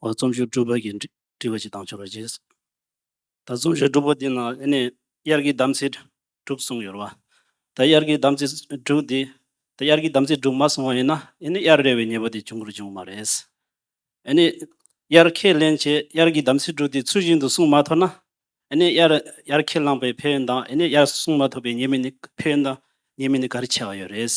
འོ་རྩོམ་ཞུགས་སྒྲུབ་པ་གྱི་འདྲི་བ་ཞིག་བཏང་ཆོག་རེད། ད་རྩོམ་ཞུགས་སྒྲུབ་པ་འདི་ན་ཨེ་ནས་དབྱར་གྱི་དམ་ཚིག་དྲུག་གསུངས་ཡོད་རེད་བ། ད་དབྱར་གྱི་དམ་ཚིག་དྲུག་འདི། ད་དབྱར་གྱི་དམ་ཚིག་དྲུག་མ་གསུངས་བ་ཡིན་ན་ཨེ་ནས་དབྱར་རེ་བའི་ཉེས་པ་དེ་བྱུང་གུར་བྱུང་བ་མ་རེད། ཨེ་ནས་དབྱར་ཁས་ལེན་བྱས་དབྱར་གྱི་དམ་ཚིག་དྲུག་འདི་ཚུལ་བཞིན་དུ་བསྲུངས་མ་ཐོབ་ན། ཨེ་ནས་དབྱར་ཁས་བླངས་པའི་ཕན་ཡོན་དང་ཨེ་ནས་དབྱར་བསྲུངས་མ་ཐོབ་པའི་ཉེས་དམིགས་ནི་ཕན་ཡོན་དང་ཉེས་དམིགས་ནི་ག་རེ་ཆེ་བ་ཡོད་རེད།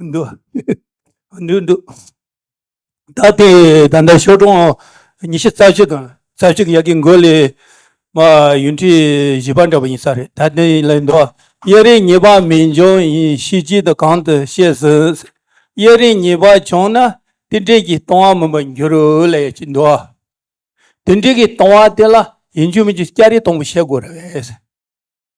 འདུ་འདུ་འདུ་ད་ལྟའི་ད་ལྟ་ཞོ་གྲོང་ཉི་ཤུ་རྩ་བཞི་དང་རྩ་བཞི་གི་ཡ་གི་མགོ་ལས་མ་ཡུན་ཁྲི་བཞི་པ་འདྲ་བ་ཡིན་ས་རེད་ད་ལྟའི་ལ་འདུ་བ་གཡས་རིའི་ཉེས་པ་མི་འབྱུང་ཡིན་ཤེས་ཀྱི་འདུག་གང་དུ་ཤེས་ཟིན་གཡས་རིའི་ཉེས་པ་བྱུང་ན་དེ་འབྲེལ་གྱི་ལྟུང་བ་མིན་པར་འགྱུར་ལ་ཡ་གྱི་འདུ་བ་དེ་འབྲེལ་གྱི་ལྟུང་བ་དེ་ལ་ཡིན་རྒྱུ་མིན་རྒྱུ་སྐྱ་རེངས་སྟོང་པོ་བཤད་དགོས་རེད།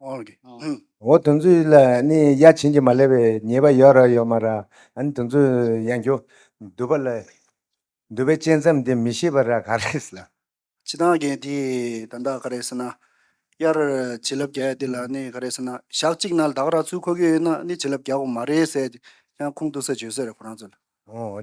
འོ་དེ་ཚོའི་ལ་ནི་ཡ་བྱིན་གྱིས་མ་ལེགས་པའི་ཉེས་པ་ཡོད་ར་ཡོད་མ་ར་ཨ་ནི་དེ་ཚོ་ཡང་ཁྱོ་འདུལ་བ་ལ་འདུལ་བའི་བཅས་མཚམས་དེ་མི་ཤེས་པ་ར་ག་རེ་ལ། ཕྱི་དང་གན་དེ་ད་ད་ག་རེ་ཟེར་ན་དབྱར་བྱིན་རླབས་རྒྱས་དེ་ལ་ནི་ག་རེ་ཟེར་ན་ཞག་གཅིག་ན་བདག་ར་ཚུལ་འཁོར་གྱི་ཡོད་ན་ནི་བྱིན་རླབས་རྒྱག་གོ་མ་རེད་ཟེར་ཡང་ཁུངས་གཏུགས་ས་བྱོས་ཟེར་ར་ཁོ་རང་ཚོ་ལ།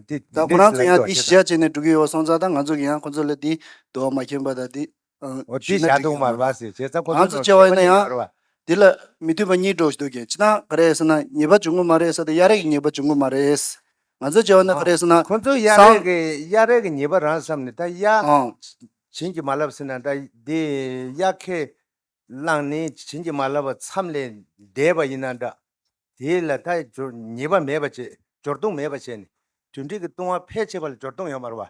ད་ཁོ་རང་ཚོ་ཡང་དེ་ཞི་བྱ་བྱས་ནས་འགྲོ་གི་ཡོད་སོང་ཙང་ད་ང་ཚོ་གི་ཡང་ཁོ་ཚོ་ལ་དེ་འདུལ་བ་མ་མཁྱེན་པ་ད་དེ་འོ་དེ་བྱ་འདུག་མར་བ་ཟེར་བྱས་རྩ་ཁོ་ཚོའི་ནང་བྱས་པ་ནས་མར་བ། འདི་ལ་མི་མཐུན་པ་གཉིས་འགྲོ་བཞིན་འདུག་གས་ཅི་ན་ག་རེ་ཟེར་ན་ཉེས་པ་འབྱུང་གི་མ་རེད་ས་དེ་གཡག་རེག་གི་ཉེས་པ་འབྱུང་གི་མ་རེད། ང་ཚོས་བྱས་པ་ནི་ག་རེ་ཟེར་ན། ཁོ་ཚོས་གཡག་རེག་གི་གཡག་རེག་གི་ཉེས་པ་རང་བསམ་ནས་ད་གཡག་བྱིན་གྱིས་མ་བརླབས་ཟེར་ན་ད་དེ་གཡག་ཁས་བླངས་ནས་བྱིན་གྱིས་མ་བརླབས་པ་མཚམས་ལས་འདས་པ་ཡིན་ན་འདྲ། དེ་ལ་ད་ཉེས་པ་མེད་པ་བྱས་སྦྱོར་བརྡུང་མེད་པ་བྱས་ནས་དུད་འགྲིག་གི་བཏུང་བ་ཕལ་ཆེ་བ་ལ་སྦྱོར་བརྡུང་ཡོད་མར་བ།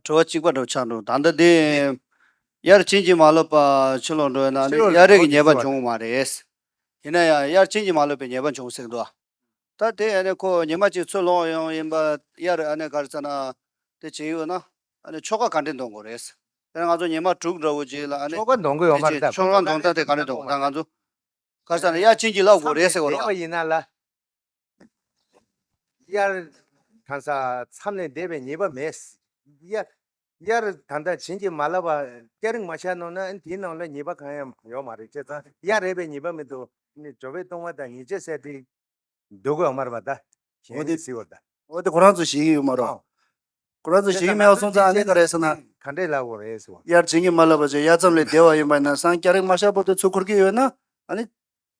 ཁྲོ་བོ་གཅིག་པ་འགྲོ་ཆགས་འགྲོ་དང་ལྡན། དབྱར་བྱིན་གྱིས་མ་བརློབས་པ་ཕྱི་ལོག་འགྲོ་ཡོད་ན་ནི་དབྱར་རིགས་ཉེས་པ་འབྱུང་བ་མ་རེད། ཡིན་ན་ཡང་དབྱར་བྱིན་གྱིས་མ་བརློབས་པའི་ཉེས་པ་འབྱུང་སྲིད་དོ། ད་དེ་ཁོ་ཉི་མ་གཅིག་ཚུར་ལོག་ཡོང་ཡིན་པ་དབྱར་གར་ཚེ་ན་དེ་བྱེད་ཡོད་ན། ཆོ་ག་ག་འདྲི་འདོང་དགོས་རེད། དེ་ང་ཚོ་ཉི་མ་དྲུག་འདྲ་བོ་རྗེས་ལ། ཆོ་ག་འདོང་དགོས་ཡོད་མ་རེད་ད། ཆོ་ག་འདོང་ད་དེ་ག་འདྲི་འདོང་དང་ང་ཚོ་གར་ཚེ་ན་དབྱར་བྱིན་གྱིས་བརླབས་དགོས་རེད་ཟེར་བ་རེད། བསམ་པའི་འདས་པ་ཡིན་ན་ལ། དབྱར། གང་ཟག་མཚམས་ལས་འདས་པའི་ཉེས་པ་མེད། དབྱར། ད་ལྟ་བྱིན་གྱིས་མ་བརླབས་པར་སྐྱ་རེངས་མ་ཤར་ནོ་ན་དེའི་ནང་ལ་ཉེས་པ་གང་ཡང་ཡོད་མ་རེད་ཅེས་ཙང་དབྱར་རེད་པས་ཉེས་པ་མེད་དོ། ཇོ་བོས་བཏུང་བ་དང་ཉེས་བྱས་བསལ་ཏེ། སྡུག་གོ་དམར་བ་དག་གཞན་ནི་བཟི་བར་གདའ། འོ་དེ་ཁོ་རང་ཚོ་ཞིག་ཡོད་མ་རོག། ཁོ་རང་ཚོ་ཞིག་ཡོད་མ་ཡོག་གསུངས་ཙང་ཨ་ནི་ག་རེད་ཟེར་ན། ག་འདྲས་ལབ་བོ་རེད་ཟེར་བ། དབྱར་བྱིན་གྱིས་མ་བརླབས་པར་ཆེས་དབྱར་མཚམས་ལས་འདས་བ་ཡིན་པ་ན་སང་སྐྱ་རེངས་མ་ཤར་བར་དུ་ཚུར་འཁོར་གྱི་ཡོད་ན་ཨ་ནི།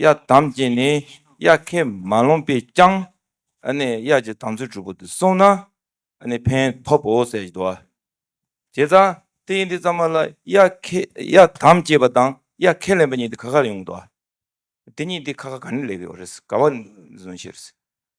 གཡའ་དམ་ཅན་ནི་གཡའ་ཁས་མ་ལོངས་པས་ཀྱང། གཡའ་ཀྱི་དམ་ཚིག་གྲུབ་པོ་དེ་སྲུང་ན་ཕན་ཐོབ་བོ་ཟེར་བཞིན་དུ། དེ་ཙམ་དེ་ཡིན་དེ་ཙམ་མ་ལ་གཡའ་དམ་བཅས་པ་དང་གཡའ་ཁས་ལེན་པ་གཉིས་དེ་ག་ག་ལ་ཡོང་དུ་བ། དེ་གཉིས་དེ་ག་ག་ག་ནས་ལེགས་ཡོད་རེད་ག་བ་ཟོན་ཤེས་རེད།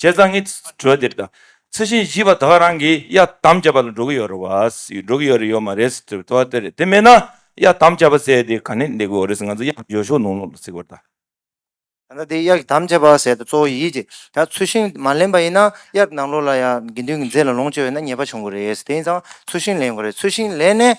བྱས་ཙང་ངའི་དྲི་བ་དེ་དྲི་ཚུལ་བཞིན་བཞི་པ་དག་རང་གིས་གཡར་དམ་བཅའ་བ་ལ་འགྲོ་གི་ཡོད་རེད་བ། འགྲོ་གི་ཡོད་རེད་ཡོད་མ་རེད་ཟེར་བའི་དྲི་བ་དེ་རེད་དེ་མེད་ན་གཡར་དམ་བཅའ་བ་ཟེར་ཡས་དེ་ག་ནས་འདེགས་དགོས་རེད་ཟེར་ང་ཚོ་གཡག་འཇོལ་ཤོག་ནོར་ནོར་ལ་ཟེར་བར་ད། ད་ལྟ་དེ་གཡག་དམ་བཅའ་བ་ཟེར་ད་གཙོ་བོ་ཡིད་ཀྱི་ད་ཚུལ་བཞིན་མ་ལེན་པ་ཡིན་ན་གཡག་ནང་ལོགས་ལ་ཡང་དགེ་འདུན་གྱི་མཛད་ལ་ལོངས་སྤྱོད་ཡོད་ན་ཉེས་པ་བྱུང་གི་རེད་དེ་ཡིན་ཙང་ཚུལ་བཞིན་ལེན་དགོས་རེད་ཚུལ་བཞིན་ལེན་ནས